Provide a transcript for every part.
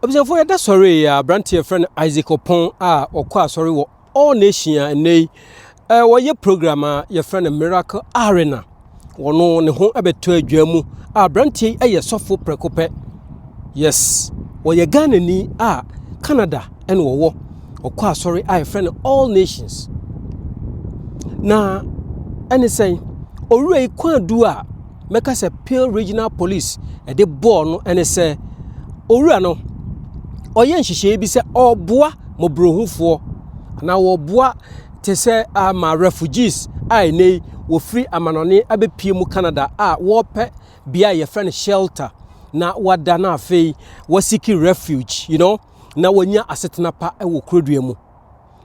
Abusuafoɔ yɛda sɔre yi a aberanteɛ yɛfrɛ no Isaac Ɔpɔn a ɔkɔ asɔre wɔ All Nation a ɛnɛ yi eh, wɔyɛ program a yɛfrɛ no Miracle Arena wɔno ne ho bɛtɔ adwa mu a aberanteɛ yi yɛ sɔfo prɛko pɛ yes wɔyɛ Ghanani a Canada ɛna wɔwɔ ɔkɔ asɔre a yɛfrɛ no All Nations na ɛne sɛn owura yi kwan du a mɛka sɛ Peel Regional Police de bɔɔ no ne sɛ, owura no, ɔyɛ nhyehyɛeɛ bi sɛ ɔreboa mmɔborɔhufoɔ na ɔreboa te sɛ ama refugees a ɛnɛ yi wɔfiri amanɔne abɛpie mu Canada a wɔrepɛ bea a yɛfrɛ no shelter na wɔada no afei wɔasiki refuge you know na wɔnya asetena pa wɔ kurodua mu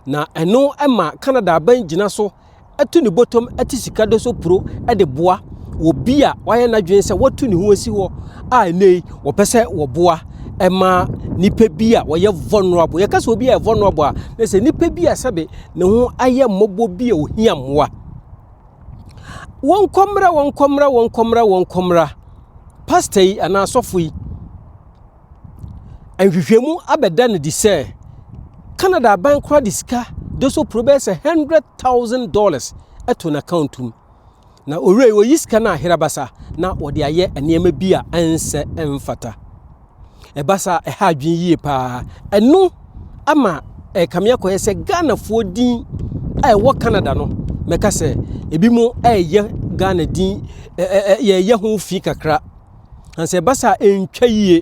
na ɛno ma Canada aban gyina so atu ne bɔtɔm te sika dɔ so puro de boa wɔ bi a wayɛ n'adwene sɛ watu ne ho asi hɔ a ɛnɛ yi wɔpɛ sɛ wɔboa ɛma nipa bi a wɔyɛ vulnerable yɛka sɛ obi a yɛ vulnerable a na sɛ nipa bi a sɛbe ne ho ayɛ mmɔbɔ bi a ohia mmoa wɔn kɔmra wɔn kɔmra wɔn kɔmra wɔn kɔmra pasta yi anaa asɔfo yi Nhwehwɛmu abɛda no adi sɛ Canada aban koraa de sika dosopro bɛyɛ sɛ $100,000 to n'akwantu mu. Na owura yi oyi sika no aherabasa na wɔde ayɛ nneɛma bi a ɛnsɛ ɛmfata. Ɛba saa ɛha adwene yie paa. Ɛno ama ɛkame akɔyɛ sɛ Ghanafoɔ din a ɛwɔ Canada no mɛka sɛ ebi mo ɛyɛ Ghana din ɛɛ yɛyɛ ho fi kakra. And sɛ ɛba saa ɛntwa yie.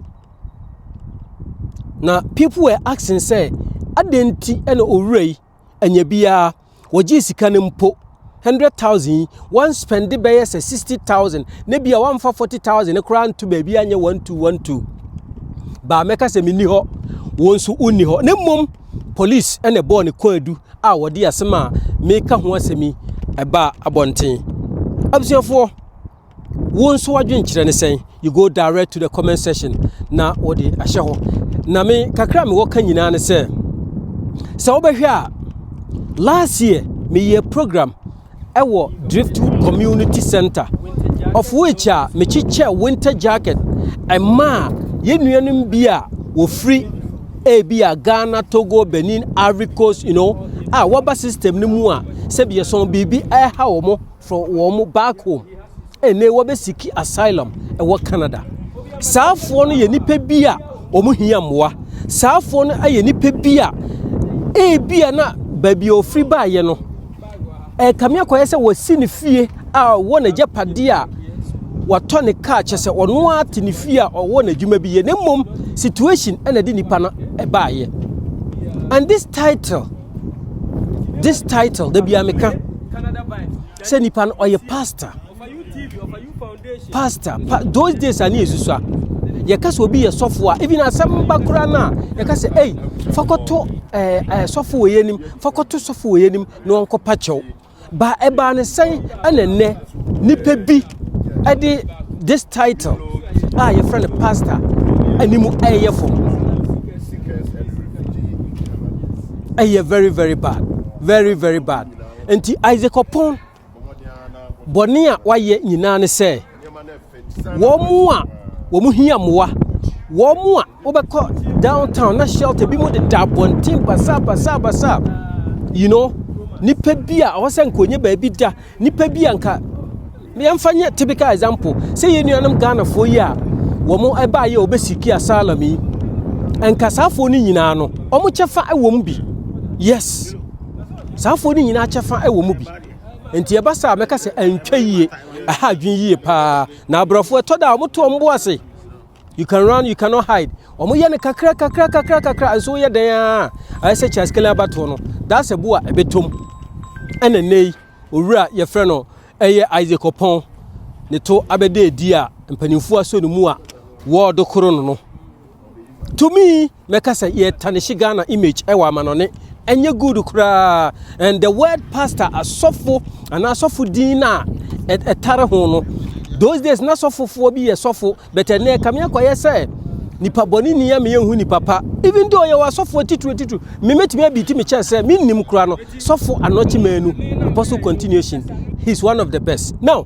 Na people were asking sɛ adɛn nti na owura yi anya biara wɔgyee sika no mpo hundred thousand yi wɔn spend bɛyɛ sɛ sixty thousand na bi a wɔamfa forty thousand no koraa nto baabi anyɛ one two one two baa mɛka sɛ menni hɔ wɔn nso wonni hɔ na mmom police ɛna ɛbɔɔ ne kɔn adu a wɔde asɛm a meka ho asɛm yi ɛbaa abɔnten abusuafoɔ wo nso w'adwenkyerɛ ne sɛn you go direct to the comment section na wɔde ahyɛ hɔ na me kakra mewɔ ka nyinaa ne sɛ sɛ wobɛhwɛ a last year meyɛ program ɛwɔ driftwood community center of which a mekyekyɛ winter jacket ɛmaa yɛn nuanom bi a wɔfiri ebi a ghana togo benin ivory coast you know a wɔba system no mu a sɛbi yɛsɔn biribi ɛha wɔn for wɔn back home ɛnɛ wɔbɛ siki asylum ɛwɔ Canada saafoɔ no yɛ nipa bi a wɔn hia mmoa saafoɔ no yɛ nipa bi a ebi a na baabi a ofiri baayɛ no ɛkame akɔyɛ sɛ wɔsi ne fie a ɔwɔ n'agyapadeɛ a watɔ ne kaa kyɛ sɛ ɔno ara te ne fie a ɔwɔ n'adwuma bi yɛ ne mmom situation ɛna de nipa no ɛbaayɛ and this title. this title da biara meka sɛ nipa no ɔyɛ pastor pastor pa those days a ne yɛ susua yɛka sɛ obi yɛ sɔfo a even asɛm ba koraa no a yɛka sɛ ei fakɔto eh, eh, sɔfo wɔ yɛ anim fakɔto sɔfo wɔ yɛ anim na ɔnkɔpa kyɛw Ba ɛbaa ne sɛn ɛna ɛnɛ nipa bi ɛde this title a yɛfrɛ no pastor anim ɛyɛ fam ɛyɛ very very bad very very bad nti isaac ɔpɔn bɔne a wayɛ nyinaa ne sɛ wɔn a wɔn hia mmoa wɔn a Wobɛkɔ downtown na shelter bi mu deda abɔnten basabasabasa, you know, nipa bi a ɔwɔ sɛ nka onye baabi da, nipa bi a nka yɛmfa nyɛ typical example sɛ yɛn nuanom Ghanafoɔ yi a wɔn ɛbaa yɛ ɔbɛsiki asylum yi, nka saafoɔ no nyinaa no wɔn kyɛfa wɔ mu bi, yes, saafoɔ no nyinaa kyɛfa wɔ mu bi. Nti ɛba saa mɛka sɛ ɛntwa yie, ɛha adwene yie paa, na aborɔfoɔ ɛtɔ da a wɔto wɔn bo ase. You can run, you cannot hide. Wɔn yɛ no kakra kakra kakra kakra nso woyɛ dɛn a ayɛ sɛ Charles Kelly abatoɔ no that's a boa ɛbɛtɔm ɛna nnɛ yi owura yɛfrɛ no ɛyɛ Isaac Ɔpɔn ne to abɛda adi a mpanimfoɔ asɔ ne mu a wɔɔdo koro no no to me mɛka sɛ yɛtanehye ghana image ɛwɔ amanɔne ɛnyɛ good koraa and the word pastor asɔfo anaa asɔfo din no a ɛtare ho no those days na sɔfofoɔ bi yɛ sɔfo but ɛnɛ ɛkame akɔyɛ sɛ nipa bɔne ni ama yɛnhu nipa pa even though yɛwɔ asɔfoɔ titiri titiri memetumi abi ti mekyɛ sɛ mennim koraa no sɔfo anɔkye maanu apostle continuation he's one of the best now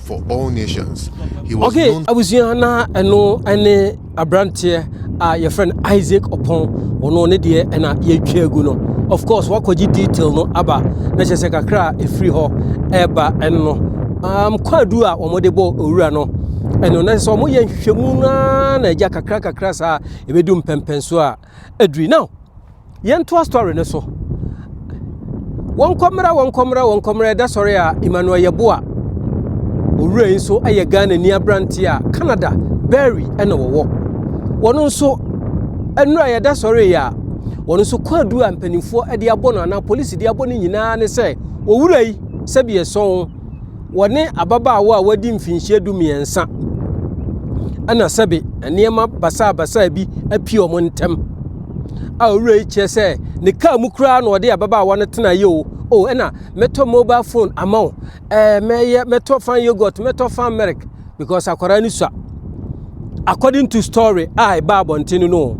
for all nations. He was okay, known. abusua na ɛno ne aberanteɛ a yɛfrɛ no isaac ɔpɔn ɔno ne deɛ ɛna yɛtwa agu no of course wakɔgye detail no aba na kyɛ sɛ kakra a ɛfiri hɔ ɛba ɛno um, kwaadu a wɔde bɔ owura no ɛno na sɛ wɔyɛ nhwehwɛmu no na agya kakra kakra saa ɛbɛdu mpɛmpɛn so a aduri now yɛntoa story no so wɔnkɔmmra wɔnkɔmmra wɔnkɔmmra ɛda sɔre a emmanuel yɛboa owura yi nso yɛ ghana ni aberante a canada berry ɛna wɔwɔ wɔn nso nnura yɛda sɔre yɛ a wɔn nso kɔ adu a mpanimfoɔ de abɔ no anaa polisi de abɔ no nyinaa ne sɛ owura yi sɛbi ɛsɔn wɔne ababaawa a wadi mfinhyia du mmiɛnsa ɛna sɛbe nneɛma basaabasaa bi apie wɔn ntɛm a owura yi kyerɛ sɛ ne kaa mu koraa na ɔde ababaawa no tena yɛ o o ɛna mɛtɔ mobile phone ama wo ɛɛ eh, mɛyɛ mɛtɔ fan yogurt mɛtɔ fan milk because akwadaa no sua according to story a ɛbaa abɔnten no no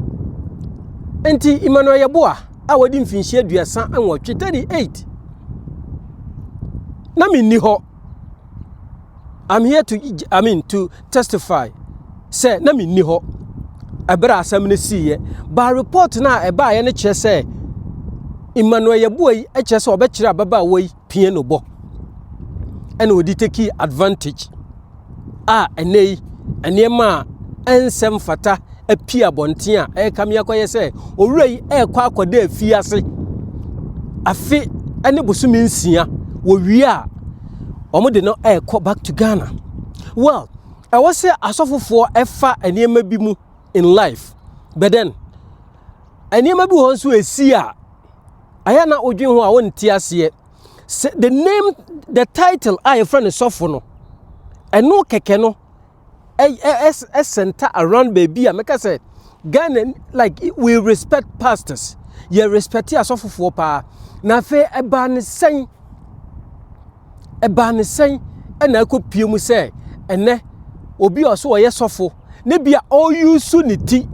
nti emmanuel yɛboa a wadi mfinhyia aduasa nwɔtwe 38 na menni hɔ I'm here to I mean to testify sɛ na menni hɔ ɛberɛ a asɛm no siiɛ ba report no a ɛbaeɛ no kyerɛ sɛ Emmanuel Yeboah yi kyerɛ sɛ ɔbɛkyerɛ ababaawa yi pie no bɔ ɛna ɔde take advantage a ɛnɛ yi nneɛma a ɛnsɛ mfata apue abɔnten a ɛreka me akɔyɛ sɛ owura yi ɛrekɔ akɔda afie ase afe ne bosome nsia wɔwie a wɔde no ɛrekɔ back to ghana well ɛwɔ sɛ asɔfofoɔ ɛfa nneɛma bi mu in life but then nneɛma bi wɔ hɔ nso ɛsi a Ayɛ na odwen ho a ɔnte aseɛ sɛ the name the title a yɛfrɛ no sɔfo no ɛno kɛkɛ no ɛsɛnta around baabi a mɛka sɛ Ghana like we respect pastors yɛ respect asɔfofoɔ paa na afei ɛbaa ne sɛn ɛbaa ne sɛn na akɔpie mu sɛ ɛnɛ obi a ɔso ɔyɛ sɔfo na bi a ɔreyusu ne ti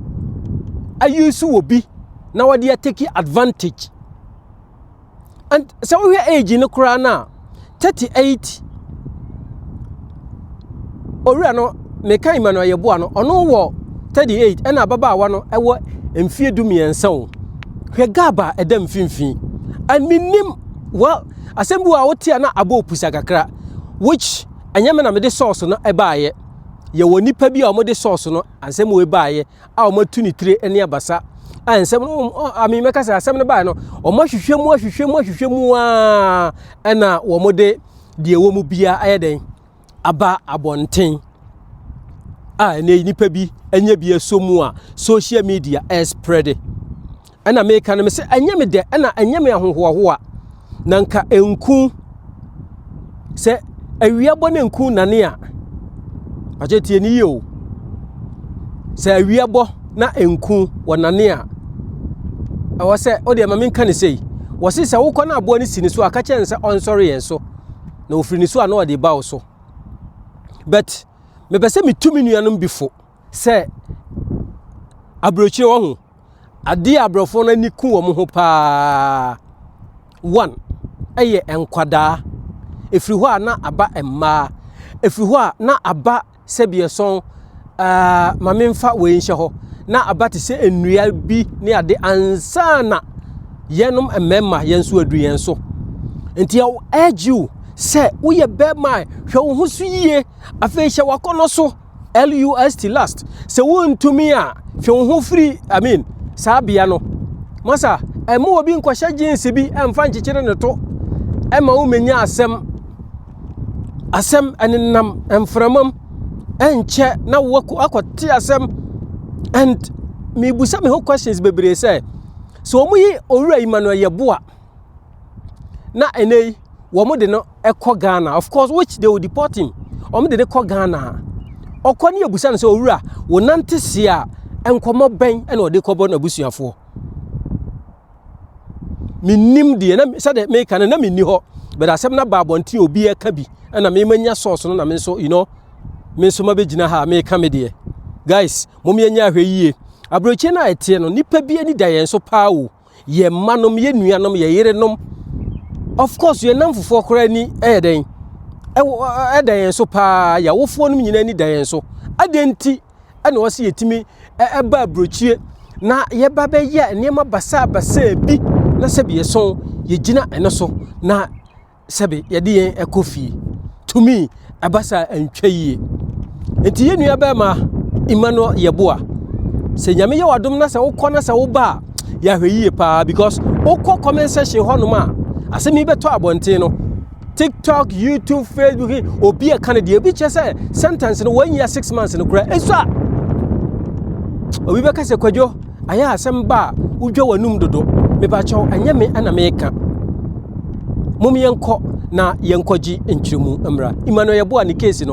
ayusu wɔ bi na wɔde ateki advantage and sɛ wohwɛ age no koraa no a 38 owura no meka emmanuel yɛboa no ɔno wɔ 38 ɛna ababaawa no ɛwɔ mfie du mmiɛnsa o hwɛ gaba ɛda mfimfini and menim well asɛm bi wɔ a wote a na abɔ opusa kakra which ɛnyɛ me na mede sɔɔso no ɛbaayɛ yɛwɔ nipa bi a wɔde sɔɔso no asɛm wɔ ɛbaayɛ a wɔatu ne tire ne abasa a nsɛm no ame mɛka sɛ asɛm no baayɛ no wɔahwehwɛ mu ahwehwɛ mu ahwehwɛ mu a ɛna wɔde deɛ ɛwɔ mu biara ayɛ dɛn aba abɔnten a ɛnɛ yi nipa bi anya bi aso mu a social media ɛresprɛde ɛna meka no me sɛ ɛnyɛ me dɛ ɛna ɛnyɛ me ahohoahoa na nka nku sɛ awia bɔ ne nku nane a agye tie ne yie o sɛ awia bɔ na nku wɔ nane a ɛwɔ sɛ o deɛ ma menka ne sei wɔse sɛ wokɔ no aboa no si ne so a ka kyɛn sɛ ɔnsɔre yɛn so na ofiri ne so a na ɔde ba wo so but mepɛ sɛ metu me nuanom bi fo sɛ aburokyire wɔ ho adeɛ a aborɔfoɔ no ani ku wɔn ho paa one ɛyɛ nkwadaa ɛfiri hɔ a na aba mmaa ɛfiri hɔ a na aba sɛbiɛsɔn aa ma menfa wei nhyɛ hɔ na aba te sɛ nnua bi ne ade ansa na yɛnom mmarima yɛn nso adu yɛn so nti ɛwɔ urge you sɛ woyɛ bɛrima hwɛ wo ho so yie afei hyɛ wakɔnɔ so lust last sɛ wontumi a hwɛ wo ho firi i mean saa bea no masa ɛma obi nkɔhyɛ jeans bi ɛmfa nkyekyere ne to ɛma womenya asɛm asɛm ɛnenam mframa mu ɛnkyɛ na wakɔ akɔte asɛm and mebusa me ho questions bebree sɛ sɛ wɔn yi owura yi ma no ɛyɛ boa na ɛnɛ yi wɔn de no ɛkɔ ghana of course which they will deport him wɔn de no kɔ ghana ɔkɔ ne ebusa no sɛ owura wɔnante se a nkɔmɔ bɛn ɛna ɔde kɔbɔ n'abusuafoɔ. menim deɛ na sɛdeɛ meka no na menni hɔ but asɛm no aba abɔnten obi ɛka bi ɛna memanya source no na me nso you know me nso mabɛgyina ha meka me deɛ guys mom yɛnyɛ ahwɛ yie aberɛkyie no a ɛteɛ no nipa bi ani da yɛn so paa o yɛ mma nom yɛ nuanom yɛ yere nom of course yɛn namfofoɔ koraa ni ɛyɛ dɛn ɛda yɛn so paa yɛawofoɔ nom nyinaa ni da yɛn so adɛn nti na ɔsɛ yɛtumi ba aburokyie na yɛba bɛyɛ nneɛma basaa basaa bi na sɛbi yɛso yɛgyina ɛno so na sɛbi yɛde yɛn ɛkɔ fie tumi ɛba saa ɛntwa yie nti yɛn nua bɛrima Emmanuel Yeboah sɛ nyame yɛ wadom na sɛ wokɔ na sɛ woba a yɛahwɛ yie paa because wokɔ comment section hɔnom a asɛm yi bɛtɔ abɔnten no tiktok youtube facebook he obi ɛka no deɛ obi kyerɛ sɛ sentence no wɔn nyia six months no kura ɛso a obi bɛka sɛ kwadwo ayɛ asɛm ba a wodwa w'anum dodo mebakyɛw ɛnyɛ me ɛna meka mom yɛnkɔ na yɛnkɔgye nkyerɛmu mmra emmanuel yɛboa ne case no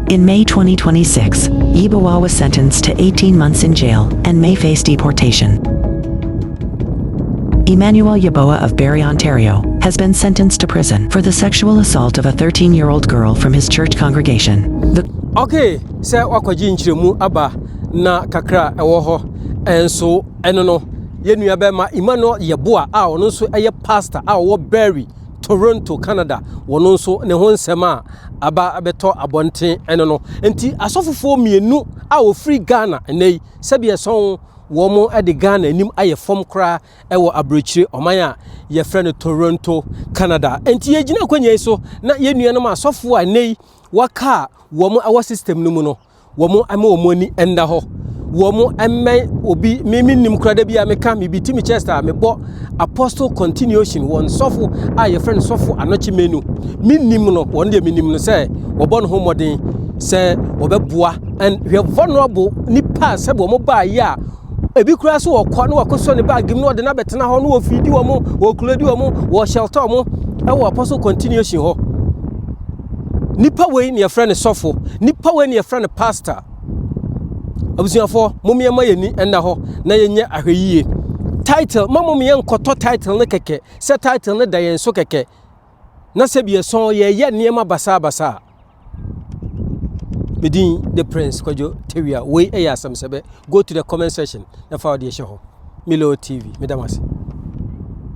In May twenty twenty six, Yeboah was sentenced to eighteen months in jail and may face deportation. Emmanuel Yeboah of Barrie, Ontario, has been sentenced to prison for the sexual assault of a 13 year old girl from his church congregation. The Okay, sɛ wakɔgye nkyerɛmu aba na kakra a ɛwɔ hɔ nso ɛno no, yɛn nua bɛrima Emmanuel Yeboah a ɔno nso yɛ pastor a ɔwɔ Barrie Toronto, Canada, wɔ no nso ne ho nsɛm a aba abɛtɔ abɔnten ɛno no. Nti asɔfofoɔ mmienu a wɔfiri Ghana nnɛ yi, sɛbi ɛsɔn wɔn de Ghana anim ayɛ fam koraa ɛwɔ aburokyire ɔman a yɛfrɛ no Toronto, Canada. Nti yɛgyina akwanya yi so na yɛn nuanom asɔfoɔ a nnɛ yi wɔaka a wɔn ɛwɔ system no mu no, wɔn ama wɔn ani nna hɔ wɔn mmɛn obi me me nim kura da bi a meka me bi ti me chest a mebɔ apostle continuation wɔn sɔfo a yɛfrɛ no sɔfo anɔkye menu me nim no wɔn deɛ me nim no sɛ wɔbɔ ne ho mmɔden sɛ wɔbɛboa and hwɛ vulnerable nipa sɛ wɔn baa yi a ebi kura so wɔkɔ na wɔkɔsɔ ne baagi mu na wɔde no abɛtena hɔ na wɔfidi wɔn wɔkuledi wɔn wɔhyɛltɔ wɔn ɛwɔ apostle continuation hɔ Nipa wei na yɛfrɛ no sɔfo. Nipa wei na yɛfrɛ no pastor. Abusuafoɔ, mom yɛma yɛn ani nna hɔ na yɛnyɛ ahwɛyie. Title, ma mom yɛn nkɔtɔ title no kɛkɛ sɛ title no da yɛn so kɛkɛ. Na sɛ bi ɛsɔn yɛyɛ nneɛma basaa basaa. Medin the prince kwadwo tewia wei ɛyɛ asɛm sɛbɛ go to the comment section na fa ɔde ɛhyɛ hɔ. Milo TV, medam ase.